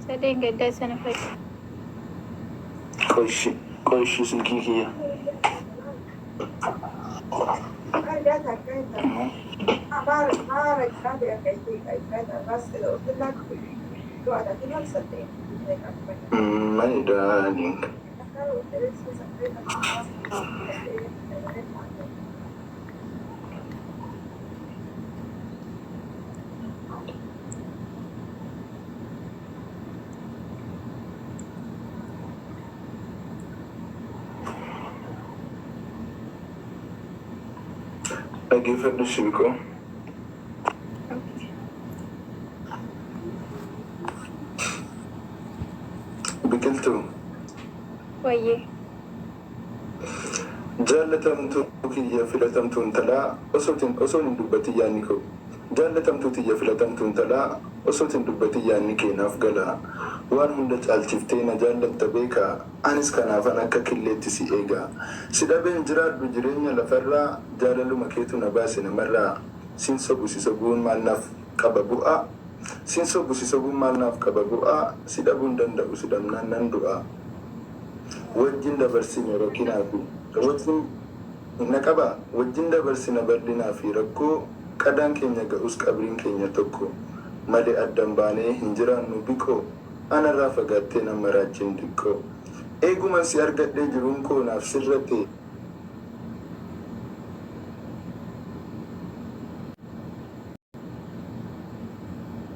Isa dheengaddaa sana fakki. Qoy ishii qoy ishii silkii kiyya. My darling. Dhaggeeffadhu Shibiqoo. Biqiltuu. Wayyee. Jaallatamtuu kiyya filatamtuu intalaa osootin osoon hin dubbatin yaanni koo Jaallatamtuu tiyya filatamtuu intalaa osoot hin dubbatin yaanni kee naaf gala Waan hunda caalchiftee na jaallatta beeka anis kanaafan akka killeetti si eega Si dhabee hin jiraadhu jireenya lafarraa Jaalaluma keetu na baase namarraa Sin sobu si sobuun maal naaf qaba bu'a Sin sobu si sobuun maal naaf qaba bu'a Si dhabuu hin danda'u si dhabnaan nan du'a. wajjin dabarsine rakinaa fi wajjin na qaba wajjin dabarsina bal'inaa fi rakkoo qadaan keenya ga'us qabriin keenya tokko male addan baanee hin jiraannu biqoo anarraa fagaattee nan maraachin diqqoo eeguman si argadhee jiruun koo naaf sirratee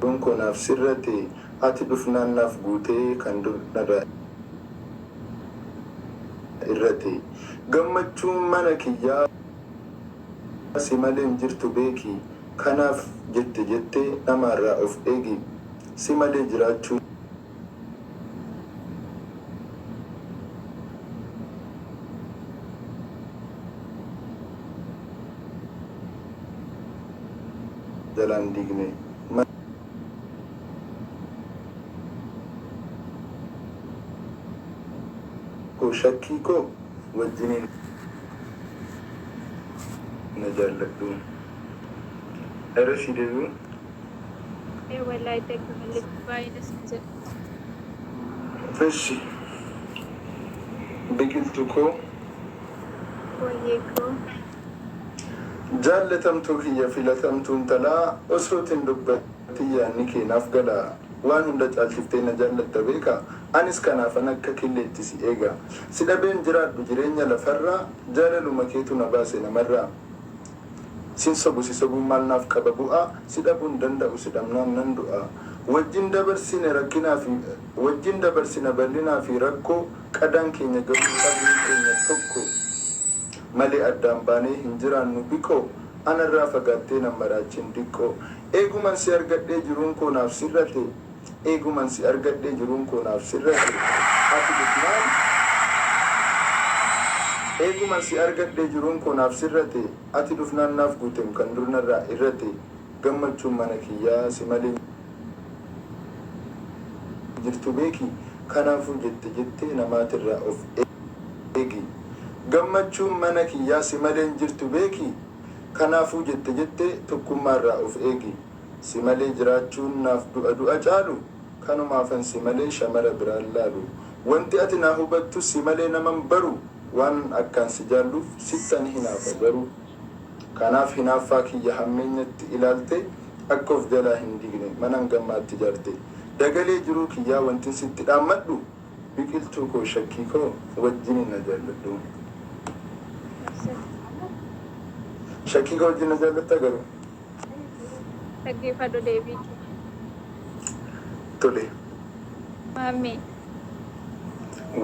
Lubbuun koo naaf sirrate Ati dhufnaan naaf guute Kan dur narraa hir'ate Gammachuun mana kiyyaa Si malee hin jirtu beeki Kanaaf jette jettee Namaarraa of eegi Si malee jiraachuun jalaan diigne. Mana koo shakkii koo wajjiniin na jaalladhu. Ergasii deebi'uun. Ee wallahi thank you Halli baay'ee das na jedha. Eshi biqiltu koo Wayyee koo. jaallatamtuu kiyya filatamtuu intalaa osoo tin dubbatin yaanni kee naaf gala waan hunda caalchiftee na jaallatta beeka anis kanaafan akka killeetti si eega si dhabeen jiraadhu jireenya lafarraa jaalaluma keetu na baase namarraa Sin sobu si sobuun maal naaf qaba bu'aa Si dhabuu hin danda'u si dhabnaan nan du'aa Wajjin dabarsine rakkinaa fi Wajjin dabarsina bal'inaa fi rakkoo Qadaan keenya garuu qabrii keenya tokko Malee addaan baanee hin jiraannu biqoo Anarraa fagaattee nan maraachiin diqqoo Eeguman si argadhee jiruun koo naaf sirrate Eeguman si argadhee jiruun koo naaf sirra jira ati dhufnaan Eeguman si argadhee jiruun koo naaf sirrate ati dhufnaan naaf guutem kan dur narraa irrate gammachuun mana kiyyaa si malee hin jirtu beeki kanaafuu jette jettee namaatirraa of eegi Gammachuun mana kiyyaa si malee hin jirtu beeki kanaafuu jette jettee tokkummaarraa of eegi. Si malee jiraachuun naaf du'a du'a caalu Kanumaafan si malee shamara biraan laalu Wanti ati naa hubattu si malee naman baru Waanan akkaan si jaalluuf sittan hinaafa garuu Kanaaf hinaaffaa kiyya hammeenyatti ilaaltee Akka of jalaa hin diigne manan gammaatti ijaarte Dagalee jiruu kiyyaa wantin sitti dhaammadhu Biqiltuu koo shakkii koo wajjinin na jaalladhu Shakkii koo wajjin na jaallattaa garuu? Dhaggeeffadhu deebii kee. Tole. Maammee.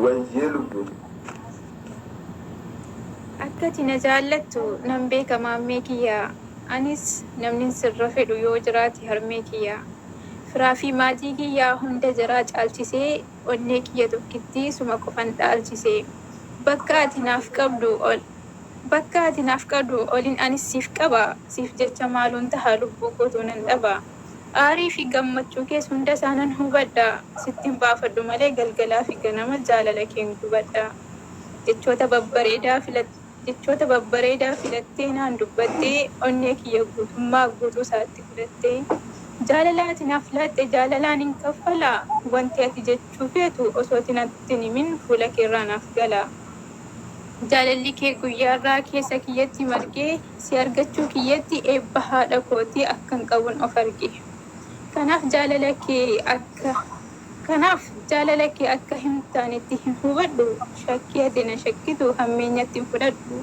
Wayyee lubbuu. Akka ati na jaallattu nan beeka maammee kiyya. Anis namnin sirra fedhu yoo jiraate harmee kiyya. Firaa fi maatii kiyya hunda jaraa caalchisee onnee kiyya tokkittii suma qofan dhaalchise. Bakka ati naaf qabdu ol. Bakka ati naaf qadu olin anis siif qaba Siif jecha maalun taha lubbuu kootuu nan dhaba Aarii fi gammachuu kees hunda isaa nan hubadha Sittin baafadhu malee galgalaa fi ganama jaalala keen gubadha Jechoota babbareedaa filattee Jechoota babbareedaa filattee naan dubbattee Onnee kiyya guutummaa guutuu isaatti fudhattee Jaalala ati naaf laatte jaalalaan hin kaffala Wanti ati jechuu feetu osoo ati natti hin himin fuula keerraa naaf gala. Jaalalli kee guyyaarraa keessa kiyyatti marge, si argachuu kiyyatti eebba haadha kootii akkan qabun of arge. Kanaaf jaalala kee akka Kanaaf jaalala kee akka hin taanetti hin hubadhu, shakkii ati na shakkitu hammeenyatti hin fudhadhu.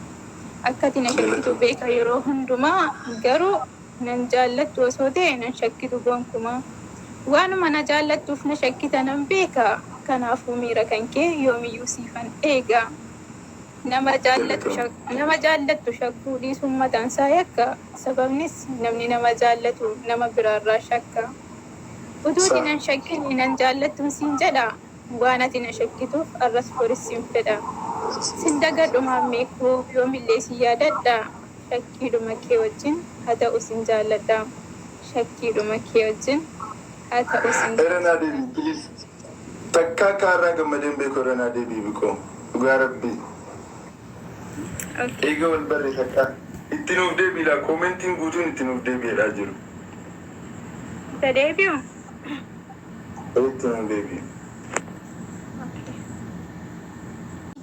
Akka ati na shakkitu beeka yeroo hundumaa, garuu. Nan jaallattu osoo ta'ee nan shakkitu gonkumaa. Waanuma na jaallattuuf na shakkita nan beeka. Kanaafuu miira kan kee yoomiyyuu siifan eega. Nama jaallattu shakkuu dhiisuun mataansaa yakka. Sababnis namni nama jaallatu nama biraarraa shakka. Utuu si nan shakkin nan jaallattuun siin jedha. Waan ati na shakkituuf arras boris sin fedha Sin dagadhu maammee koo yoomillee sin yaadadha Shakkiidhuma kee wajjin haa ta'u sin jaalladha Shakkiidhuma kee wajjin haa ta'u sin. Irra naa deebi'i please Takkaa akkaa har'aa gammadee hin beeku irra naa deebi'i bikoo dhugaa rabbii Okay. Eega wal barre takkaa Itti nuuf deebi'i laa Commentin guutuun itti nuuf deebi'i jedhaa jiru. Haa deebi'u. Kottu nuu deebi'i. Onnee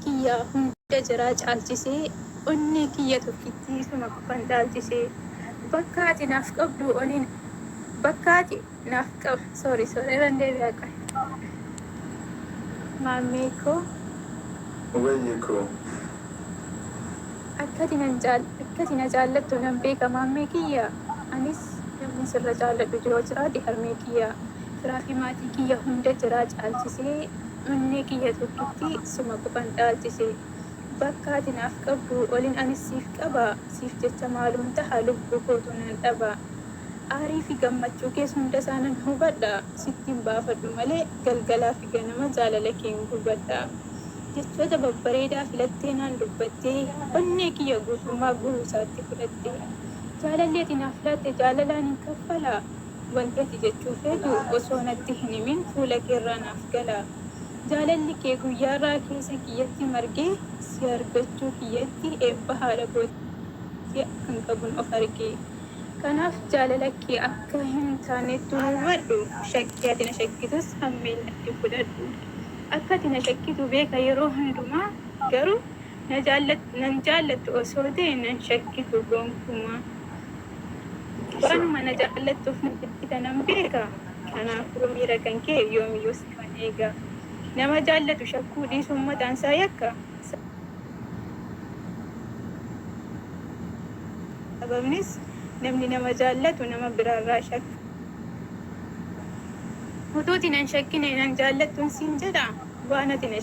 kiyya hunda jaraa caalchisee, onnee kiyya tokkittii isuma qofan dhaalchisee, bakka ati naaf qabduu olin, bakka ati naaf qab, sorry sorry irran deebi'a qoy. Maammee koo. Mugayyee koo. Akkati nan jaal akkati na jaallattu nan beeka maammee kiyya Anis namni sirra jaalladhu yoo jiraate harmee kiyya Firaa fi maatii kiyya hunda jiraa caalchisee Onnee kiyya tokkitti suma qofan dhaalchise Bakka ati naaf qabduu olin anis siif qaba Siif jecha maaluun taha lubbuu kootu nan dhaba Aarii fi gammachuu kees hunda isaa nan hubadha, sittin baafadhu malee galgalaa fi ganama jaalala keen gubadha. Jechoota babbareedaa filattee naan dubbattee, onnee kiyya guutummaa guutuu isaatti fudhatte. Jaalalli ati naaf laatte jaalalaan hin kaffala. Wanti ati jechuu feetu osoo natti hin himin fuula kee irraa naaf gala. Jaalalli kee guyyaa irraa keessa kiyyatti margee si argachuu kiyyatti eebba haadha kootii akkan qabun of arge. Kanaaf jaalala kee akka hin taanettun hubadhu, shakkii ati na shakkitus hammeenyatti fudhadhu. Akka ati na shakkitu beeka yeroo hundumaa, garuu nan jaallattu osoo ta'e nan shakkitu gonkumaa. Waanuma na jaallattuuf na shakkita nan beeka, kanaafuu miira kan kee yoomiyyuu sifan eega. Nama jaallatu shakkuu dhiisuun mataansaa yakka. Sa. Sababnis namni nama jaallatu nama biraarraa shakka. Utuu ati na hin shakkine nan jaallattuun siin jedha, waan ati na.